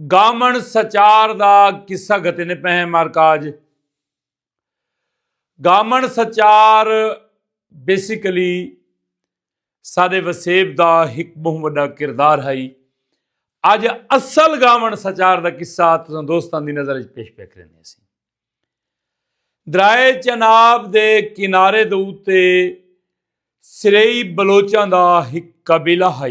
گامن سچار دا قصہ گھتے نے پہ مارکاج گامن سچار بیسیکلی سادے وسیب دا ایک بہت بڑا کردار ہے اج اصل گامن سچار دا قصہ تساں دوستان دی نظر پیش پہ کرنے سی درائے چناب دے کنارے دے اوتے سرئی بلوچاں دا ایک قبیلہ ہے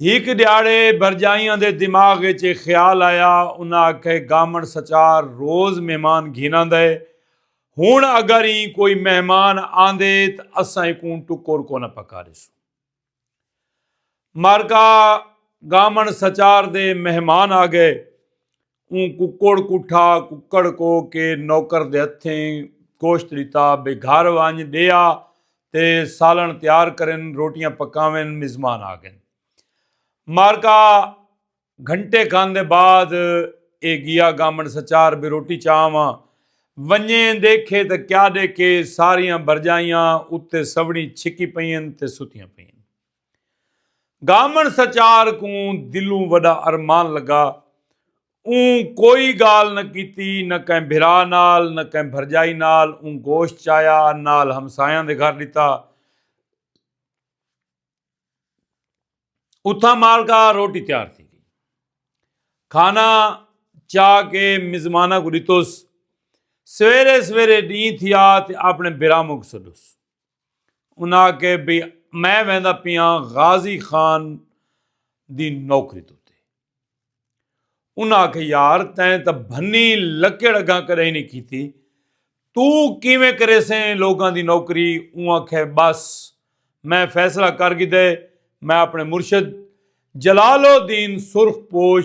ہک ڈیہاڑے برجائیاں دے دماغ اچ اے خیال آیا انہاں آکھے گامن سچار روز مہمان گھن آندا اے ہن اگر ایں کوئی مہمان آندے تاں اساں ایکوں ٹکر کونا پکاریسوں مارکا گامن سچار دے مہمان آگئے اوں ککڑ کوں ٹھا ککڑ کو کے نوکر دے ہتھیں گوشت ڈتا بے گھر ونج ڈیا تے سالن تیار کرن روٹیاں پکاون مزمان آ گن مارکا گھنٹے کھن دے بعد اے گیا گامن سچار بے روٹی چاواں ونجیں دیکھے تے کیا ڈیکھے ساریاں بھرجائیاں اتے سوڑی چھکی پئین تے ستیاں پئین۔ گامن سچار کوں دلوں وڈا ارمان لگا۔ اوں کوئی گال نہ کیتی نہ کہیں بھرا نال نہ کہیں بھرجائی نال اوں گوشت چایا نال ہمسایاں دے گھر ڈتا۔ اتھاں مالکا روٹی تیار تھی گئی۔ کھانا چا کے مزماناں کو ڈتوس۔ سویرے سویرے ڈیں تھیا تے اپنے بھراموں کو سڈوس۔ انہاں آکھے بھئی میں ویندا پیاں غازی خان دی نوکری تے انہاں آکھے یار تیں تاں بھنی لکڑ اگاں کدے نہیں کیتی تو کیویں کرے سے لوگاں دی نوکری اوں آکھے بس میں فیصلہ کر گی دے میں اپنے مرشد جلال الدین سرخ پوش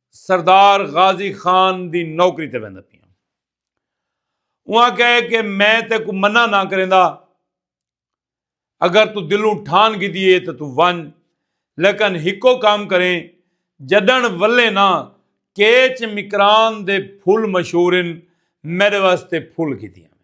سردار غازی خان دی نوکری تے ویندا پیا ہاں۔ اوہاں کہے کہ میں تیکوں منع نہ کریندا۔ اگر تو دلوں ٹھان گھدی ہے تاں تو ونج۔ لیکن ہکو کم کریں جڈݨ ولیں نہ کیچ مکران دے پھل مشہور ہن میݙے واسطے پھل گھدی آویں۔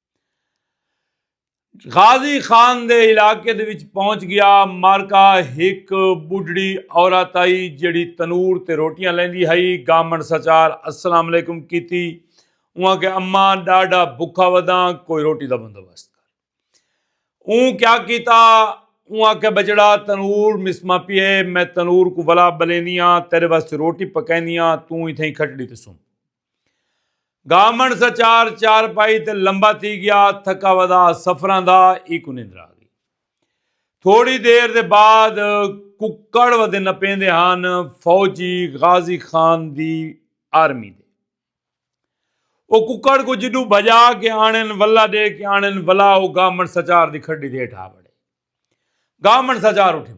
غازی خان دے علاقے دے وچ پہنچ گیا مارکا ہک بڈڑی عورت آئی جڑی تنور تے روٹیاں لیندی ہائی گامن سچار السلام علیکم کیتی اواں کے اما ڈاڈا بکھا وداں کوئی روٹی دا بندوبست کر اون کیا کیتا اواں کے بچڑا تنور مسما پیے میں تنور کو ولا بلیندیاں تیرے واسطے روٹی پکیندیاں توں ایتھے کھٹڑی تے سن گامن سا چار چار پائی تے لمبا تھی گیا تھکا ودا سفران دا ای کو نندر آ گئی تھوڑی دیر دے بعد ککڑ ودے نپین دے ہان فوجی غازی خان دی آرمی دے او ککڑ کو جدو بھجا کے آنن ولا دے کے آنن ولا او گامن سچار دی کھڑی دے اٹھا بڑے گامن سچار اٹھے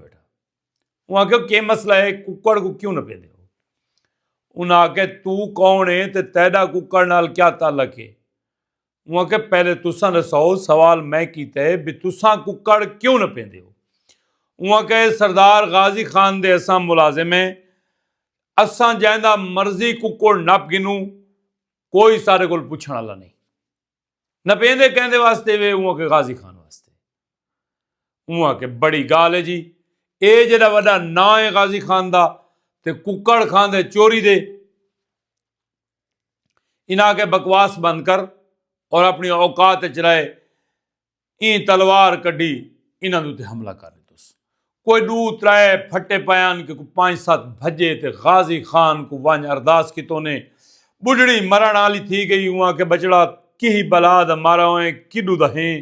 انہاں آکھیا کہ مسئلہ ہے ککڑ کو کیوں نہ پیندے ہو انہاں آکھیا تو کون ہے تے تیڈا ککڑ نال کیا تعلق ہے انہاں آکھیا پہلے تساں دساؤ سوال میں کیتا ہے بھئی تساں ککڑ کیوں نہ پیندے ہو انہاں آکھیا اے سردار غازی خان دے اساں ملازم ہیں اساں جیندا مرضی ککڑ نپ گھنوں کوئی ساڈے کول پچھن والا نہیں نپیندے کہندے واسطے وے اوں کے غازی خان واسطے اوں کے بڑی گال ہے جی اے جڑا وڈا نا ہے غازی خان دا تے ککڑ خان دے چوری دے انہاں کے بکواس بند کر اور اپنی اوقات چرائے ایں تلوار کڈی انہاں دے تے حملہ کر ڈتس کوئی ڈو ترے پھٹے پیان کہ کوئی پانچ ست بھجے تے غازی خان کو ونج ارداس کیتو نے بڈھڑی مرن آلی تھی گئی اواں کہ بچڑا کیہی بلا دا مارا ہوئیں کڈو دا ہیں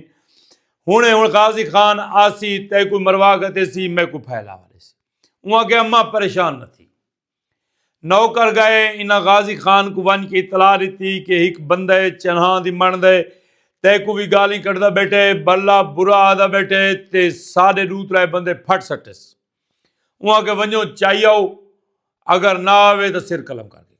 ہنے ہن غازی خان آسی تیکو مروا گھتے سی میکو پھیلا والے سی اواں کہ اماں پریشان نہ تھی نوکر گئے انہاں غازی خان کوں ونج کے اطلاع ڈتی کہ ہک بندہ ہے چنہاں دی مݨ دے تے کوں وی گالیں کڈھدا بیٹھے بھلا برا آہدا بیٹھے تے ساڈے ڈو ترائے بندے پھٹ سٹس اوں آکھے ونجو چائی آؤ اگر نہ آوے تاں سر قلم کر ڈیجے۔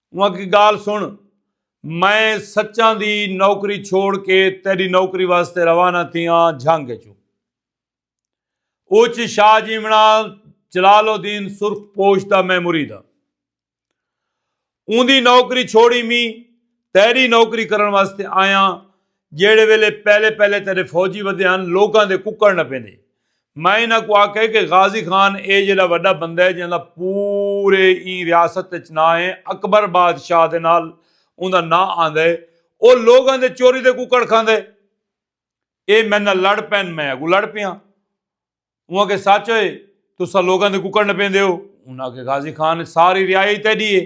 اواں کی گال سن میں سچاں دی نوکری چھوڑ کے تیری نوکری واسطے روانہ تھیاں جھنگ چوں اوچ شاہ جیمنا جلال الدین سرخ پوش دا میں مرید ہاں اوندی نوکری چھوڑی می تیری نوکری کرن واسطے آیاں جیڑھے ویلے پہلے پہلے تیڈے فوجی ودھے ہن لوکاں دے ککڑ نہ پیندے۔ میں انہاں کوں آکھے کہ غازی خان اے جیڈا وڈا بندہ ہے جیندا پورے ایں ریاست اچ ناں ہے اکبر بادشاہ دے نال اوندا ناں آندے ہے او لوکاں دے چوری دے ککڑ کھاندے ہے اے میڈے نال لڑ پین میں اگوں لڑ پیاں۔ اوں آکھے سچ ہے تساں لوکاں دے ککڑ نہ پیندے ہو۔ انہاں آکھے غازی خان ساری ریائی تیڈی ہے۔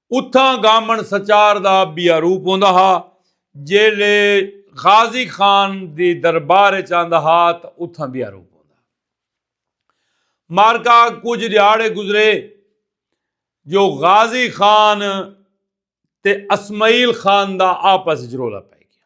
اتھاں گامن سچار دا بیا روپ ہوندا ہا جیلے غازی خان دی دربار اچ آندا ہا تاں اتھاں بیا روپ ہوندا ہا۔ معرکہ کجھ ڈیہاڑے گزرے جو غازی خان تے اسمعیل خان دا آپس اچ رولا پئے گیا۔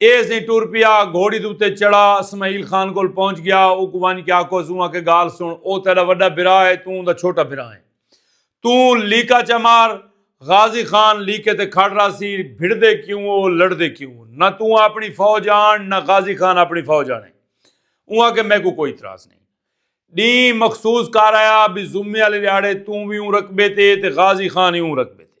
اے زیں ٹر پیا، گھوڑی دے اتے چڑھا، اسماعیل خان کول پہنچ گیا، اوکوں ونج کے آکھو اس اوں آکھے گالھ سن، او تیڈا وڈا بھرا ہے، توں اوندا چھوٹا بھرا ہیں۔ توں لیکا چا مار، غازی خان لیکے تے کھڑ راہسی، بھڑدے کیوں او، لڑدے کیوں او، نہ توں آپنی فوج آن، نہ غازی خان آپنی فوج آنے۔ اوں آکھے میکوں کوئی اتراض نئیں۔ ڈینہہ مخصوص کر آیا بی زمے آلے ڈیہاڑے توں وی اوں رقبے تے تے غازی خان ای اوں رقبے تے۔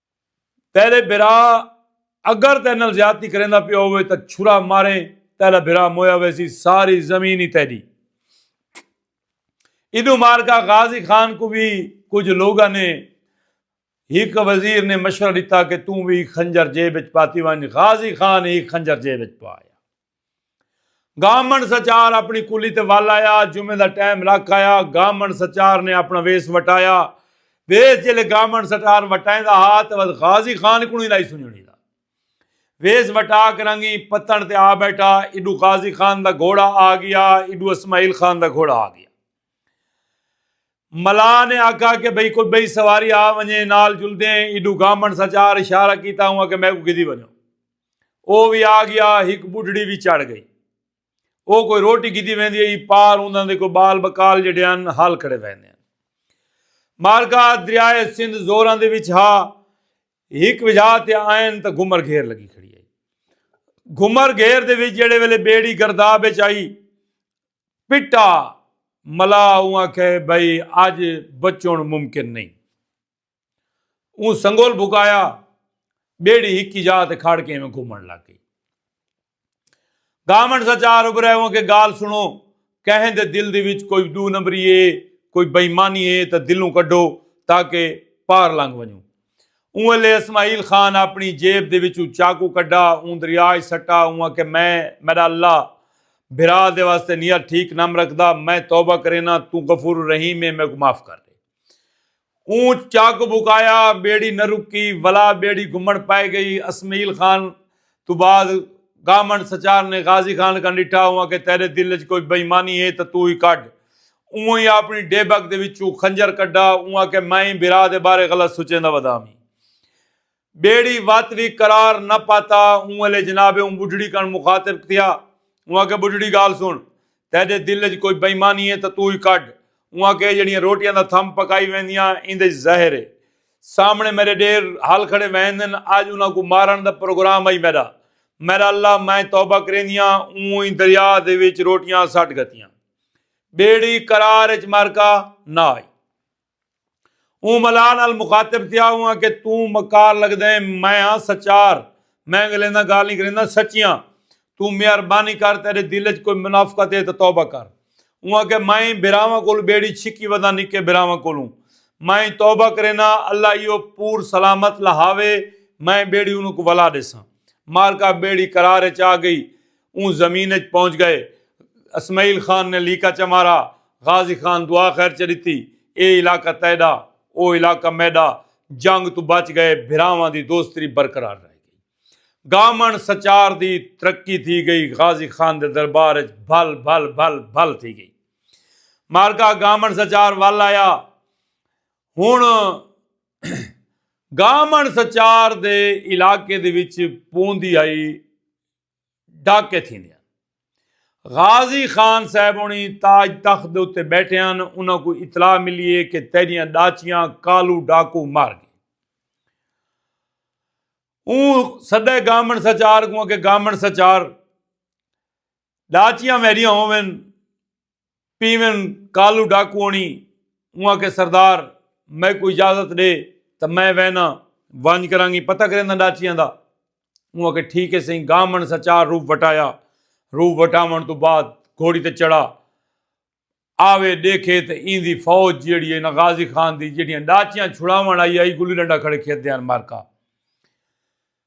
تیرے بھرا اگر تیرے نال زیادتی کریندا پیا ہووے تاں چھرا مارے تیرا بھرا مویا ویسی ساری زمین ہی تیری ادو مارکا غازی خان کو بھی کچھ لوگا نے ہک وزیر نے مشورہ دیتا کہ توں بھی خنجر جیب وچ پاتی ونج غازی خان ہی خنجر جیب وچ پایا گامن سچار اپنی کلی تے ول آیا جمعے دا ٹائم لکھ آیا گامن سچار نے اپنا ویس وٹایا ویس جلے گامن سچار وٹائیں دا ہا تے ود غازی خان کو نہیں لائی سنجنی دا ویس وٹا کرنگی پتن تے آ بیٹھا ایڈو غازی خان دا گھوڑا آ گیا ایڈو اسماعیل خان دا گھوڑا آ گیا ملا نے آکھا کہ بھئی کوئی بھئی سواری آ ونجے نال جلدے ایڈو گامن سچار اشارہ کیتا ہوا کہ میں کو گدی ونجو او وی آ گیا ہک بڈھڑی وی چڑھ گئی او کوئی روٹی گھدی ویندی ہئی پار اونداں دے کوئی بال بکال جیڈے ہن ہل کھڑے ویندے ہن مارکا دریائے سندھ زوراں دے وچ ہا ہک وجھا تے آئن تاں گھمر گھیر لگی کھڑی ہئی گھمر گھیر دے وچ جیڑے ویلے بیڑی گرداب وچ آئی پٹا ملا اوں آکھے بھئی اج بچون ممکن نہیں اوں سنگول بھکایا بیڑی ہکی جا تے کھڑ کے ایویں گھومن لگ گئی گامن سا چار ابرے ہوں کہ گال سنو کہیں دے دل دی وچ کوئی دو نمبری ہے کوئی بےمانی ہے تے دلوں کڈو تاکہ پار لنگ ونجوں اوں لے اسماعیل خان اپنی جیب دے وچوں چاقو کڈا اوں دریاج سٹا اوں کہ میں میرا اللہ بھرا دے واسطے نیت ٹھیک نم رکھدا میں توبہ کرینا تو غفور الرحیم ہے میں کو معاف کر دے اوں چاک بکایا بیڑی نہ رکی ولا بیڑی گھمن پائے گئی اسمیل خان تو بعد گامن سچار نے غازی خان کا نٹھا ہوا کہ تیرے دل وچ کوئی بےمانی ہے تو تو ہی کڈھ اوں ہی اپنی ڈیبک دے وچوں خنجر کڈھا اوں آکھے میں ہی بھرا دے بارے غلط سچیندا ودا ہاں ٻیڑی وت وی قرار نہ پاتا اوں ویلے جناب اوں ٻڈھڑی کن مخاطب تھیا اوں آکھیا ٻڈھڑی گالھ سن تیڈے دل اچ کوئی بئیمانی ہے تاں توں ای کڈھ اوں آکھیا اے جیڑھیاں روٹیاں دا تھم پکائی ویندیاں ایندے اچ زہر ہے سامنے میڈے ڈیر ہل کھڑے ویندن اج انہاں کوں مارن دا پروگرام ہئی میڈا میڈا اللہ میں توبہ کریندیاں اوں ای دریا دے وچ روٹیاں سٹ گھتیاں ٻیڑی قرار اچ مرکا نہ آئی۔ اوں ملاح نال مخاطب تھیا ہوا کہ توں مکار لگدیں میں ہاں سچار میں گلیں دا گال نہیں کرینداں سچیاں توں مہربانی کر تیڈے دل اچ کوئی منافقت ہے تاں توبہ کر اوں آکھیا میں بھراواں کولوں بیڑی چھکی وداں نکے بھراواں کولوں میں توبہ کرینداں اللہ ایہو پور سلامت لہاوے میں بیڑی انہاں کوں ولا ڈیساں مارکا بیڑی قرار اچ آ گئی اوں زمین اچ پہنچ گئے۔ اسمعیل خان نے لیکا چا مارا۔ غازی خان دعا خیر چا ڈتی۔ اے علاقہ تیڈا۔ او علاقہ میڈا۔ جنگ توں بچ گئے۔ بھراواں دی دوستری برقرار رہ گئی۔ گامنڑ سچار دی ترقی تھی گئی۔ غازی خان دے دربار اچ بھل بھل بھل بھل تھی گئی۔ معرکہ گامنڑ سچار ول آیا۔ ہنڑ گامنڑ سچار دے علاقے دے وچ پوندی ہئی۔ ڈھک کے تھیندے ہن۔ غازی خان صاحب ہنڑی تاج تخت دے اتے بیٹھے ہن انہاں کوں اطلاع ملی ہے کہ تیڈیاں ڈاچیاں کالو ڈاکو مار گئے۔ اوں سدے گامن سچار کوں کہ گامن سچار ڈاچیاں میڈیاں ہوون پیون کالو ڈاکو آنی اوں آکھے سردار میکوں اجازت ڈے تاں میں وینا ونج کرانگی پتہ کرینداں ڈاچیاں دا اوں آکھے ٹھیک ہے سہی گامن سچار روپ وٹایا روپ وٹاون تو بعد گھوڑی تے چڑھا آوے دیکھے تے ایں دی فوج جیڑی ہے نا غازی خان دی جیڑیاں ڈاچیاں چھڑاون آئی آئی گلی ڈنڈا کھڑے کھیت دیان مارکا